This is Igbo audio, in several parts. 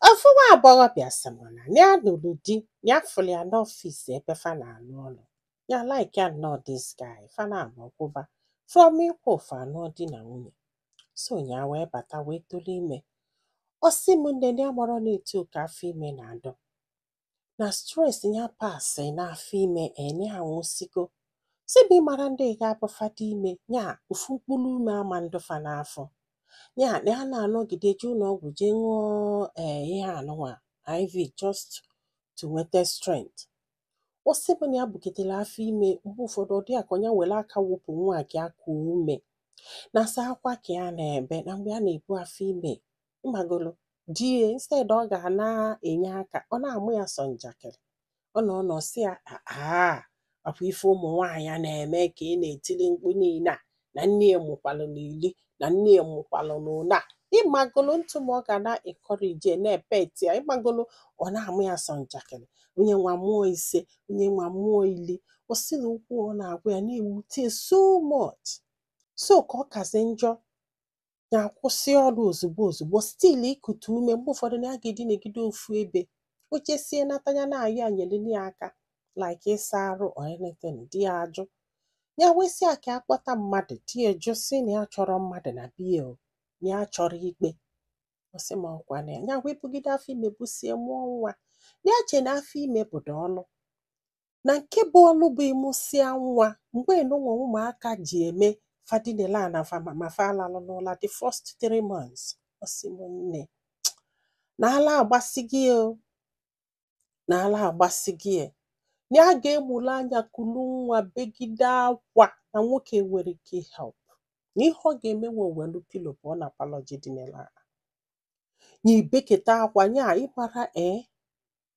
Ofu nwa agbọghọbịa sị m na ya lụrụ di ya fụrụ ya n'ọfịs ebe fa na-alụ ọlụ ya like ya nnọọ this guy fa naabọ kwụba from ịkwụ fa anụọ di na nwunye so ya wee bata wee tụrụ ime ọ sị m nne ya amarọ na etu a ka afọ ime na-adị na stress ya pasị n'afọ ime enye ha nwụsigo si bụ ịmara ndị ga-abụ fa dị ime ya ofu mkpụrụ ume ama adị fa n'afọ ya na ya na-anọgide jee ụlọ ọgwụ jee ṅụọ ee eh, ihe anụnwa IV just to nweta strength ọ sị na ya bugidere afọ ime mgbe ụfọdụ ọ dị ya ka nya were aka wepụ nwa ka ya kuo ume na sọ akwa ka ya na-ebe na mgbe a na-ebu afọ ime ịmagolo di ya instead ọ ga na-enye aka ọ na-ama ya sọ njakịrị ọ nọọ nọọ sị ya aa ọ kwa ife ụmụ nwaanyị na-eme ka ị na-etili mkpu niile a na nne ya mụkwalụ n'ili na nne ya mụkwalụ n'ụnọ ịmagolo ntụ ma ọ ga na-encourage na-epet ya ịmagolo ọ na-ama ya sọ njakịrị onye nwa mụọ ise onye nwa mụọ ili o si na okwu ọ na-agwa ya na-ewute ya so much so ka ọ kazi njọ ya akwụsị ọrụ ozugbo ozugbo still ikute ume mgbe ụfọdụ na ya ga-edinegide ofu ebe o jesie nata ya na-ayọ ya nyelinụ ya aka like ịsa arụ or anything di ya ajụ ya wee sị ya ka a kpọta mmadụ di ya ajụ sị na ya achọrọ mmadụ na be ya o na ya achọrọ ikpe ọ sị m ọ kwa na ya wee bugide afọ ime busie mụọ nwa na ya che na afọ ime bụdu ọlụ na nke bụ ọlụ bụ ịmụsịa nwa mgbe anụnwa ụmụaka ji eme fa dinela na ma fa alalụ n'ụla the first three months ọ sị m nne na ala agbasi gị o na ala agbasi gị e. na ya ga-amụlụ anya kulu nwa begide akwa na nwoke enwerọ ike help na ihe ọ ga-eme wee welu pillow pụọ na parlour jee dinala nya bekata akwa nya ịmara ee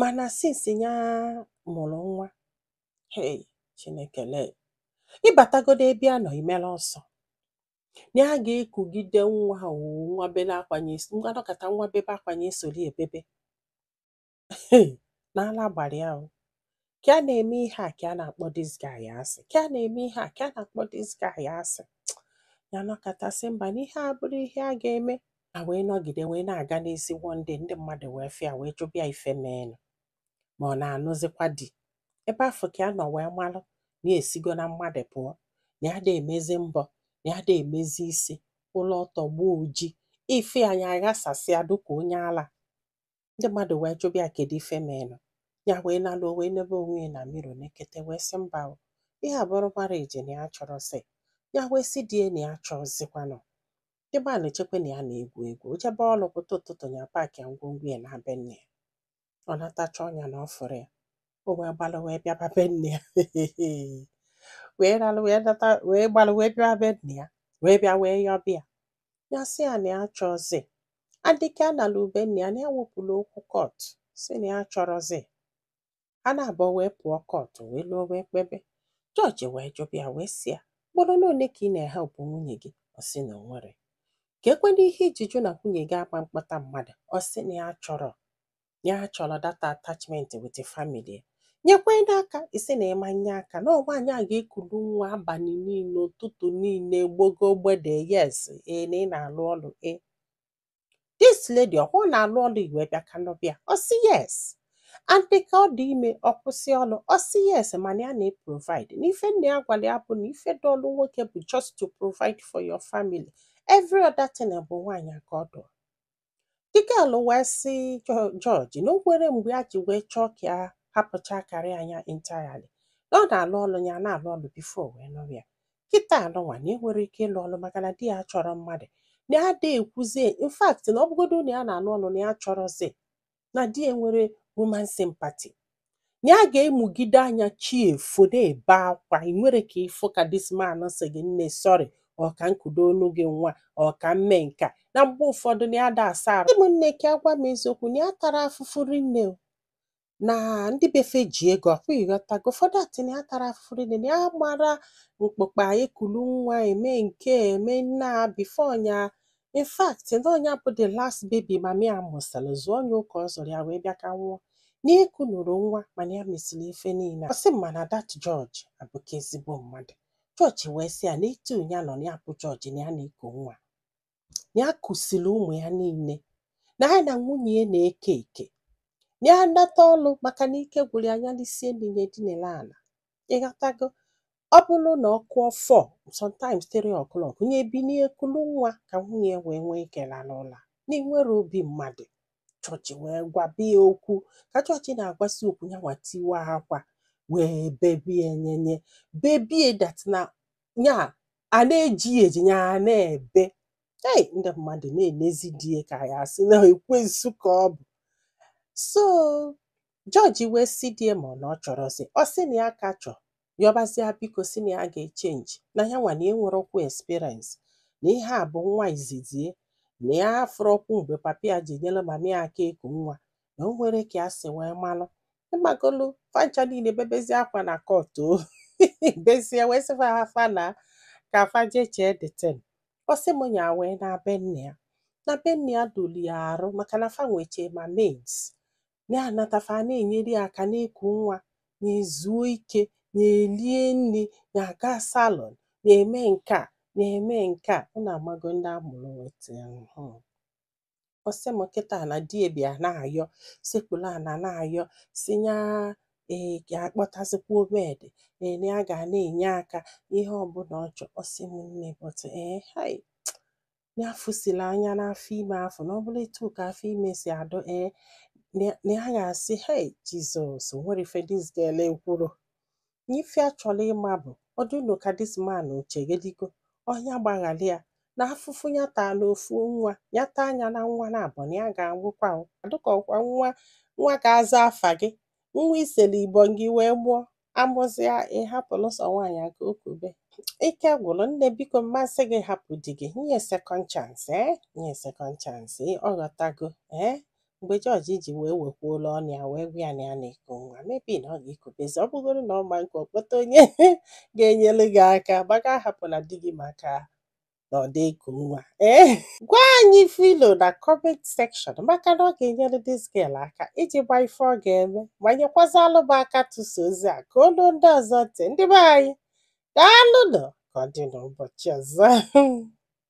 mana since ya mụrụ nwa hey Chineke lee ị batagodu ebe ya nọ ị mara ọsọ na ya ga-ekugide nwa o nwa bebe akwa nya isi nwa nọkata nwa bebe akwa nya esoro ya bebe Hey, na ala gbara ya o ka a na-eme ihe a ka a na-akpọ this guy asị ka a na-eme ihe a ka a na-akpọ this guy asị ya nọkata sị mba na ihe a abụrọ ihe ya ga-eme a wee nọgide wee na-aga n'isi one day ndị mmadụ wee bịa wee jụba ya ife meenụ ma ọ na-anụzikwa di ebe afụ ka ya nọ wee malụ na ya esigo na mmadụ pụọ na ya ada emezi mbọ na ya ada emezi isi ụlọ ọtọ gbaa oji ife nya aghasasịa dịka onye ala Ndị mmadụ wee jụba ya kedu ife meenụ. Ya wee nalụ o wee nebe onwe ya na mirror nekete wee sị mba o, ihe a bụrụ marriage na ya achọrọzị. Ya wee sị di ya na ya achọzịkwanụ. The man chekwe na ya na-egwu egwu. O jebe ọlụ pụta ụtụtụ ya paakịa ngwongwo ya na be nne ya. Ọ nata chọọ ya na ọ fụrọ ya. O wee gbalụ wee bịaba be nne ya. wee ralụ wee nata wee gbalụ wee bịaba be nne ya. Wee bịa wee yọba ya. ya sị ya na ya achọzi adịka a nalụ be nne ya na ya wepụla okwu court sị na ya achọrọzi ha na-abụọ wee pụọ court wee lụọ wee kpebe judge wee jụba ya wee sị ya ugboro one ka ị na-ehelp nwunye gị ọ sị na o nwerọ kekwanụ ihe i ji jụ na nwunye gị agba mkpọta mmadụ ọ sị na ya achọrọ ya achọrọ that attachment with the family nyekwanụ ya aka ị sị na ị ma nye aka na nwaanyị a ga-ekulu nwa abalị niile ụtụtụ niile gbogo mgbede yes ee na ị na-alụ ọlụ ee this lady ọkwa ọ na-alụ ọlụ i wee bịa ka nụba ya ọ sị yes and dịka ọ dị ime ọ kwụsị ọlụ ọ sị yes mana ya na-eprovide na ife nna ya gwara ya bụ na ife dị ọlụ nwoke bụ just to provide for your family every other thing bụ nwaanyị ka ọ dụ The girl wee sị judge na o nwerọ mgbe ya ji wee chọọ ka ya hapụcha career ya entirely na ọ na-alụ ọlụ ya na-alụ ọlụ before wee nụrụ ya kịta nunwa na ya enwerọ ike ịlụ ọlụ maka na di ya achọrọ mmadụ na ya adịghị ekwuzie in fact na ọ bụgodo na ya na-alụ ọlụ na ya achọrọzi na di ya enwerọ human sympathy na ya ga-amụgide anya chi efo na-ebe akwa ị nwerọ ka ị fụ ka this man sị gị nne sorry ọ ka m kudoonụ gị nwa ọ ka m mee nka na mgbe ụfọdụ na ya da asa arụ ụmụnne ka agwa m eziokwu na ya tara afụfụ rinne o. na ndị be fe ji ego ọkwa ị ghọtago ụfọdụ atị na ya tara afụfụ rinne na ya mara mkpụkpa ekulu nwa eme nke eme nna before nya in fact na ọ nya bụ the last baby mummy ya mụsịrị zụọ onye ụka ọ zụrụ ya wee bịa ka nwụọ n'iku nụrụ nwa mana ya mesịrị ife niile ọ sị m mana that judge abụka ezigbo mmadụ judge wee sị ya na etu ya nọ na ya bụ judge na ya na-eku nwa na ya kusiri ụmụ ya niile na ya na nwunye ya na-eke eke na ya nata ọlụ maka na ike gwụrụ ya nya lisie nni ya dinere ala ị ghọtago ọ bụrụ na ọ kụọ four sometimes three o'clock nya binie kulu nwa ka nwunye ya wee nwee ike lalụ ụla na i nwerọ obi mmadụ judge wee gwaba ya okwu ka judge na-agwasi okwu ya nwa tiwa akwa wee bebie nyenye bebie that na ya a na-eji ya eji ya a na-ebe ei ndị mmadụ na-enezi di ya ka ya asị na ekwensu ka ọ bụ so Jọji wee sị di ya ma na ọ chọrọzi, ọ sị na ya ka chọ, yọbazi ya biko sị na ya ga-echenji, na ya nwa na ya enwerọkwu experience, na ihe a bụ nwa izizi ya, na ya afụrọkwu mgbe papa ya ji nyere mama ya aka eku nwa, na o nwerọ ka ya si wee malụ. Ịmagolu fa ncha niile bebezi akwa na kọt o bezie wee sị fa fa naa ka fa je chee the thing. Ọ sị m nya wee naa be nne ya. Na be nne ya dolu ya arụ maka na fa nweche ma maids. ya anata fa ana-enyere ya aka na-eku nwa ya ezuo ike ya elie nri ya aga salon ya eme nke a ya eme nke a unu amago ndị a mụrụ weta ọ sị m kịta na di ya bịa na-ayọ sekpuru ana na-ayọ sị ya ee ya akpọtazikwa maid ee na ya ga na-enye aka ihe ọbụla ọ chọ ọ sị m nne bọtụ ee hai na ya fụsiri anya n'afọ ime afụ na ọ bụrụ etu a ka afọ ime si adị ee na ya ga-asị hei jizọs o nwerọ ife dis girl ekwurọ na ife ya chọrọ ịma bụ ọ dị unu ka dis man o chegharịgo ọ nya gbaghara ya na afụfụ ya taa n'ofu nwa ya taa nya na nwa naabọ na ya ga-anwụkwa dịka ọkwa nwa ga-aza afa gị nwa i sere ibọ gị wee mụọ a mụzịa ị hapụrụ sọ nwaanyị a ka o kube ike gwụrụ nne biko m ma-asị gị hapụ di gị nye sekọnd chansị ee eh? nye sekọnd chansị ọ ghọtago ee eh? mgbe jọji ji wee wekwuola ọnụ ya wee gwa ya na ya na-eku nwa mebi na ọ ga-ekubezi ọ bụgodu na ọ ma nke ọ kpọta onye ga-enyere gị aka gbaga ahapụna di gị maka na ọ dị eku nwa ee eh? gwa anyị ife i lo na kọment sekshọn maka na ọ ga-enyere dis gel aka iji ma ife ọ ga-eme ma nyekwazialụ m aka tụsa ozi a ka o lu ndị ọzọ ntị ndị be anyị daalụnụ ka ọ dị n'ụbọchị ọzọ